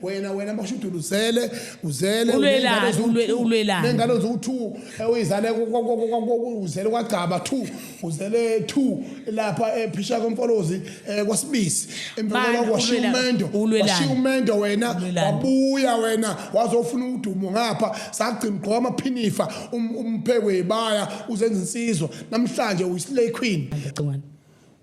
wena wena mashudula uzele uzele ulwelani nengane uze u2 uyizale uzele kwagcaba 2 uzele 2 lapha ephisha eh, komfolozi eh, kwasibisi emvela kwashiya umendo washiya umendo wena wabuya wena wazofuna udumo ngapha sagcina gqoka amaphinifa um, umphekwe ibaya uzenza insizwa namhlanje uyislay queen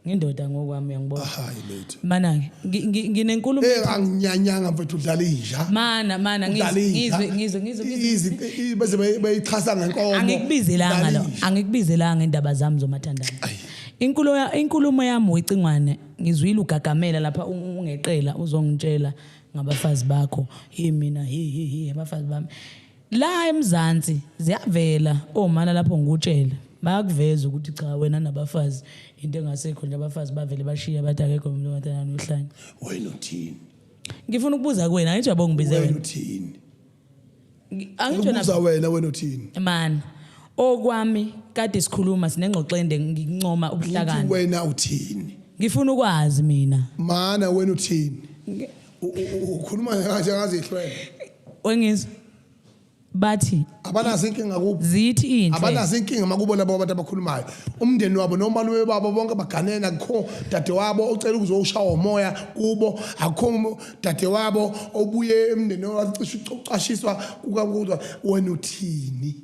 ngindoda ngokwami uyangibona Ah, hayi lady mana ke ngi- ngi- nginenkulumo Eh anginyanyanga mfethu udlala inja. mana mana ngizwe Udlala inja. ngizwe ngizwe ngizwe ngizwe. Izi- i- bese bay- bayixhasa ngenkomo. angikubizelanga Udlala lo inja. angikubizelanga indaba zami zomathandana Ayi. inkulumo ya- inkulumo yami wecingwane ngizwile ugagamela lapha u- ungeqela uzongitshela ngabafazi bakho hi mina hi hi hi abafazi bami La eMzansi ziyavela omana lapho ngikutshela. Bayakuveza ukuthi cha wena nabafazi into engasekho nje abafazi bavele bashiya bathi akekho umuntu ongathandana nohlanya. Wena uthini? Ngifuna ukubuza kuwena angithi uyabonga ngibize Wena wena. uthini? Ngi- Angithi wena Ubuza wena wena uthini? man okwami kade sikhuluma sinengxoxo ende ngincoma Uthi ubuhlakani. wena uthini? Ngifuna ukwazi mina. Mana wena uthini? U- u- u- ukhuluma kanje angazihlwele wengizwa bathi abanazo inkinga kubo zithi inhle abanazo inkinga makubo labo abantu abakhulumayo umndeni wabo nomalume babo bonke baganene akukho dadewabo ocela ukuzowushawa umoya kubo akukho um- dadewabo obuye emndeni wacisha ucashiswa kukakuzwa wena uthini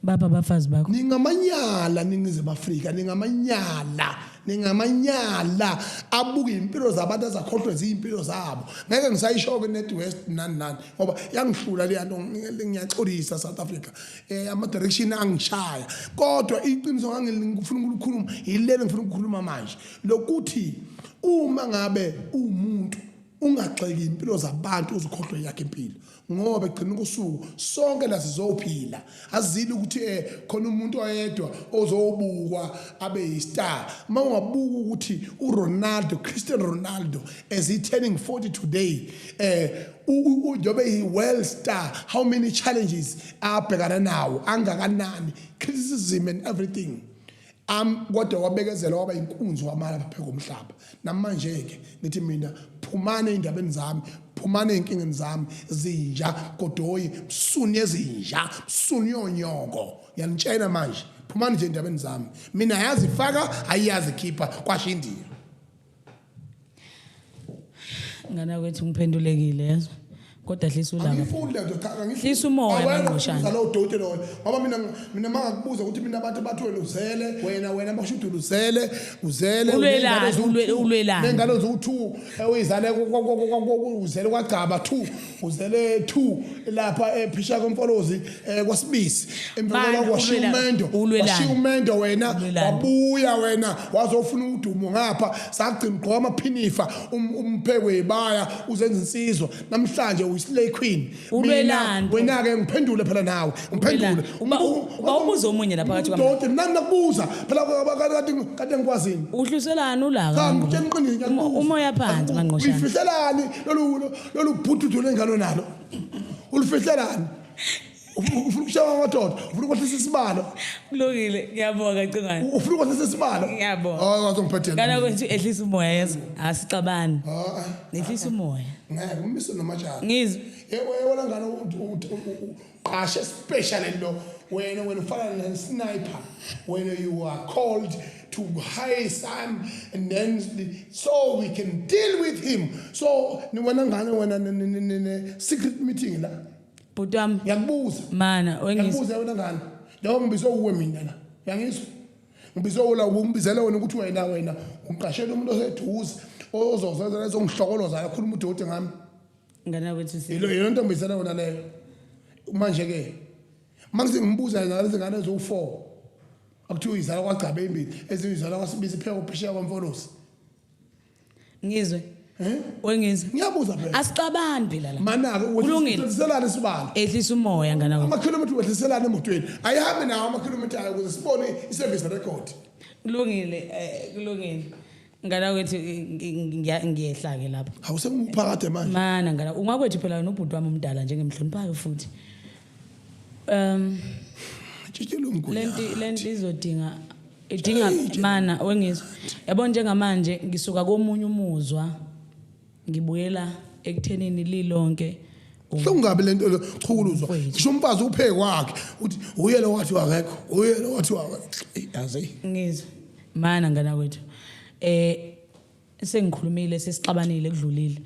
baba abafazi bakho ningamanyala ningizimu afrika ningamanyala ningamanyala abuke impilo zabantu azakhohlwe ziyimpilo zabo ngeke ngisayisho-ke net west nani nani ngoba yangihlula leya nto ngiyaxolisa south africa um ama-direction angishaya kodwa iqiniso ngangifuna ukulikhuluma yilelo ngifuna ukukhuluma manje lokuthi uma ngabe uwumuntu ungagxeki impilo zabantu uzikhohlwe yakhe impilo ngoba egcina ukusuku sonke la sizophila azile ukuthi eh khona umuntu oyedwa ozobukwa abe yistar uma ungabuka ukuthi uRonaldo Cristiano Ronaldo as he turning 40 today eh ujobe yi world star how many challenges abhekana nawo angakanani criticism and everything am kodwa wabekezela waba inkunzi wamala lapha komhlaba namanje ke nithi mina phumane indabeni zami phumane inkingeni zami zinja godoyi msuni ezinja msuni yonyoko yanitshena manje phumani nje endabeni zami mina yazi faka ayiyazi khipha kwasho indiya ngana kwethu ngiphendulekile yezwa kodwa dlisa ulaka angifundi lento cha angifundi Hlisa umoya, Awena Mangqushana. ubuza lowo doti loyo ngoba mina mina mangakubuza ukuthi mina abantu bathi wena uzele wena wena basho ukuthi uzele uzele Ulwelani, ulwe- ulwelani? nengane zowu-two ewuyizale uzele kwagcaba two uzele 2 lapha ephisha komfolozi eh, kwasibisi emva Manje, kwaloko washiya ulwela- umendo ulwelani? washiya umendo wena Ulwelani? wabuya wena wazofuna udumo ngapha sagcina ugqoka amaphinifa um- umphekwe ibaya uzenza insizwa namhlanje uyislay queen Ulwelani? Mina, wena ke ngiphendule phela nawe ngiphendule Ulwelani? Uba- Umbu- uba ubuza omunye la phakathi kwami. Udoti, nami nakubuza phela kade kade ngikwazini Uhluselani ulaka? cha ngikutshela iqiniso Uma- umoya phansi, Mangqoshana. uyifihlelani lolu lolu bhuti uthole ngalo nalo ulufihlelani ufuna ukushaya amadoda ufuna ukwehlisa isibalo kulungile ngiyabonga cingwane ufuna ukwehlisa isibalo ngiyabonga hayi wazongiphathela kana kwethu ehlisa umoya yezo asixabani nehlisa umoya ngeke umise nomatshana ngizwe yebo yebo langana qasha especially lo wena wena ufana ne sniper wena you are called to high sun and then so we can deal with him so ni wena ngane wena ne secret meeting la bhuti wami ngiyakubuza mana ngiyakubuza wena ngane njengoba ngibizwe uwe mina la uyangizwa ngibizwe ula ngibizela wena ukuthi wena wena uqashela umuntu oseduze ozozenza lezo ngihlokoloza yakhuluma udoti ngami ngane yakwethu si yilo yilo ntombizana yona leyo manje ke mangise ngimbuza yena lezi ngane eziwu-four akuthiwa izala kwagcabe imbili ezinye izala kwasibisi ipheka uphesheya kwamfolosi ngizwe Eh? wengizwe ngiyabuza phela asixabani phela la manake Kulungile. wehliselana isibalo ehlisa umoya ngane yakwethu amakhilomitha wehliselana emotweni ayihambi nawo amakhilomitha ayo ukuze sibone i-service record kulungile eh, kulungile ngala kwethu ngiya- ngiyehla-ke lapho hawu sengiphakade manje mana ngala ungakwethu phela wena ubhuti wami omdala nje ngimhloniphayo futhi um tshitshela lenti umgunya lenti izodinga idinga mana wengizwa yabo njengamanje ngisuka komunye umuzwa Ngibuyela ekuthenini lilonke Buhlungu kabi lento le chukuluzwa. Mfwethu. Ngisho umfazi upheke kwakhe uthi uye lo wathi wakekho, uye lo wathi wakekho. Yazi. ngizwe mana ngana kwethu eh sengikhulumile sesixabanile kudlulile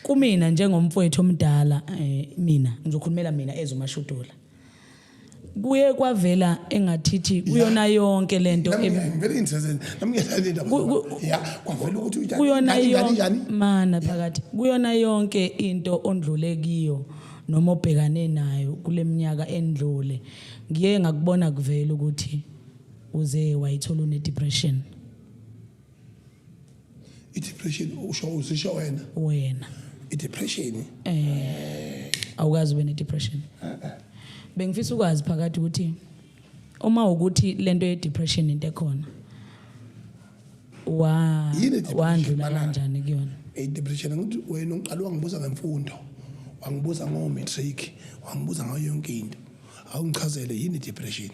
kumina njengomfowethu omdala eh mina ngizokhulumela mina ezomashudula kuye kwavela engathithi kuyona yonke lento em- ngivele ngithezele nami ngiyadlala indaba Ku- ku- ya kwavela ukuthi uyidlala kuyona kanjani, yonke kanjani? mana phakathi kuyona yonke into ondlule kiyo noma obhekane nayo kuleminyaka endlule ngiye ngakubona kuvela ukuthi uze wayithola une depression i-depression usho uzisho wena wena i-depression eh awukazi ube ne-depression bengifisa ukwazi phakathi ukuthi uma ukuthi lento ye-depression into ekhona wa Yini i-depression, wandlula Malala? kanjani kuyona i-depression angithi wena uqala wangibuza ngemfundo wangibuza ngo-matric wangibuza ngayo yonke into awungichazele yini i-depression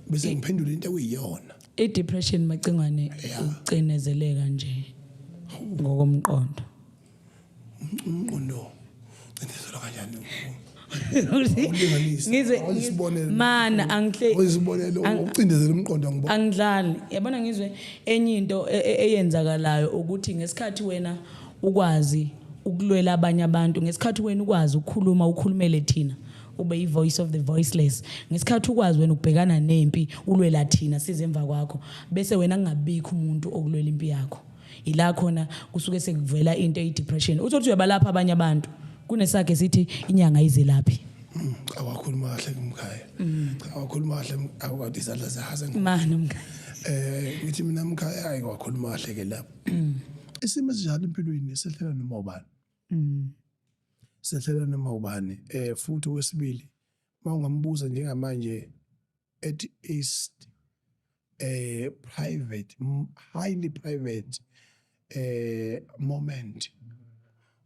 bese ngiphendula into ekuyiyona I depression macingwane ucinezeleka nje ngokomqondo. Umqondo cindezelwa kanjani? Ngize isibonelo. Mana angihle. Isibonelo ucindezela umqondo ngibona. Angidlali. Yabona ngizwe enye into e, e, eyenzakalayo ukuthi ngesikhathi wena ukwazi ukulwela abanye abantu ngesikhathi wena ukwazi ukukhuluma ukhulumele thina ube i-voice of the voiceless ngesikhathi ukwazi wena ukubhekana nempi ulwela thina size emva kwakho bese wena kungabikho umuntu okulwela impi yakho ila khona kusuke sekuvela into eyi-depression uthi ukuthi uyabalapha abanye abantu kunesakhe sithi inyanga izelaphi mm, cha wakhuluma kahle kumkhaya mm. cha wakhuluma kahle awukade izandla zahaza mani mkhaya eh ngithi mina mkhaya hayi wakhuluma kahle ke lapho mm. isimo esinjalo empilweni esehlela noma ubani mm. sehlela noma ubani eh futhi wesibili mawungambuza njengamanje at east eh private highly private eh moment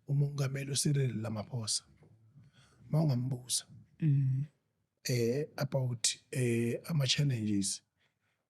umongameli uSiril Ramaphosa mawungambuza mm. eh about eh ama challenges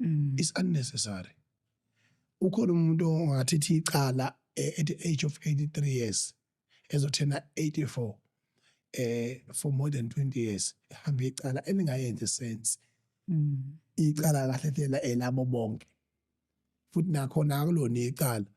mm. is unnecessary ukhona umuntu ongathithi icala eh, at the age of 83 years ezothena 84 eh for more than 20 years ehambe icala elingayenzi sense mm. icala kahle lela elabo bonke futhi nakhona akulona icala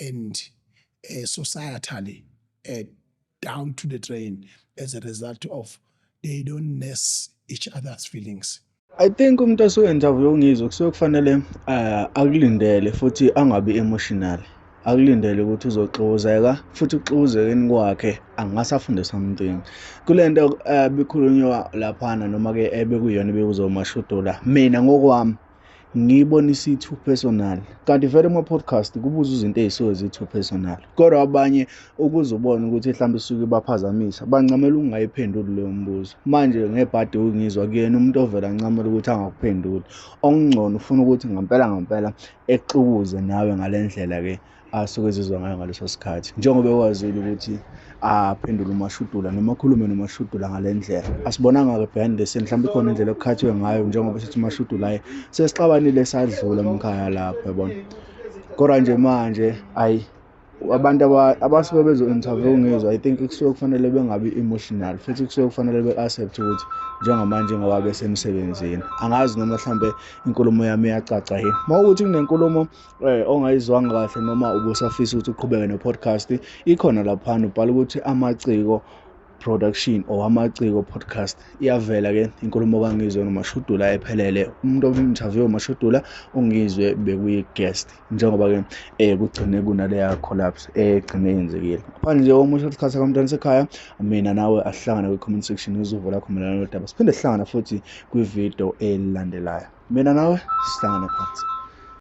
and uh, societally uh, down to the drain as a result of they don't nurse each other's feelings. I think umuntu osuke interview ungizwe kusuke kufanele uh, akulindele futhi angabi emotional. akulindele ukuthi uzoxuzeka futhi ukuxuzekeni kwakhe angasafunde something kule nto um eh, bikhulunywa laphana noma-ke ebekuyona eh, bekuzomashudola mina ngokwami ngiyibonisa i-two personal kanti vele ama-podcast kubuza izinto ey'suke zi-two personal kodwa abanye ukuze ubone ukuthi mhlawumbe isuke ibaphazamisa bancamela ukungayiphenduli leyo mbuzo manje ngebhadi ukungizwa kuyena umuntu ovele ancamela ukuthi angakuphenduli okungcono ufuna ukuthi ngampela ngampela exukuze nawe ngale ndlela-ke asuke ezizwa ngayo ngaleso sikhathi njengoba ekwazile ukuthi aphendule umashudula noma akhulume nomashudula ngale ndlela asibonanga-ke behind the scene mhlawumbe ikhona indlela okukhathwe ngayo njengoba sithi umashudula aye sesixabanile sadlula mkhaya lapho yabona kodwa nje manje ayi abantu abasuke bezo-interview ngizwa i think kusuke kufanele bengabi emotional futhi kusuke kufanele be-accept ukuthi njengamanje ngoba besemsebenzini angazi noma mhlawumbe inkulumo yami iyacaca yini uma ukuthi kunenkulumo Eh, ongayizwanga kahle noma ubusafisa ukuthi uqhubeke ne-podcast ikhona laphana ubhala ukuthi amaciko production or amaciko podcast iyavela ke inkulumo kangizwe nomashudula ephelele umuntu obimthaviwe umashudula ungizwe bekuyi-guest njengoba ke eh kugcine kunaleya collapse egcine eh, yenzekile ngaphandle nje omusho isikhathi sakamntwana sekhaya mina nawe asihlangane kwi-comment section uzuvo lakho mayelana nodaba siphinde sihlangana futhi kwividiyo elandelayo mina nawe sihlangane phansi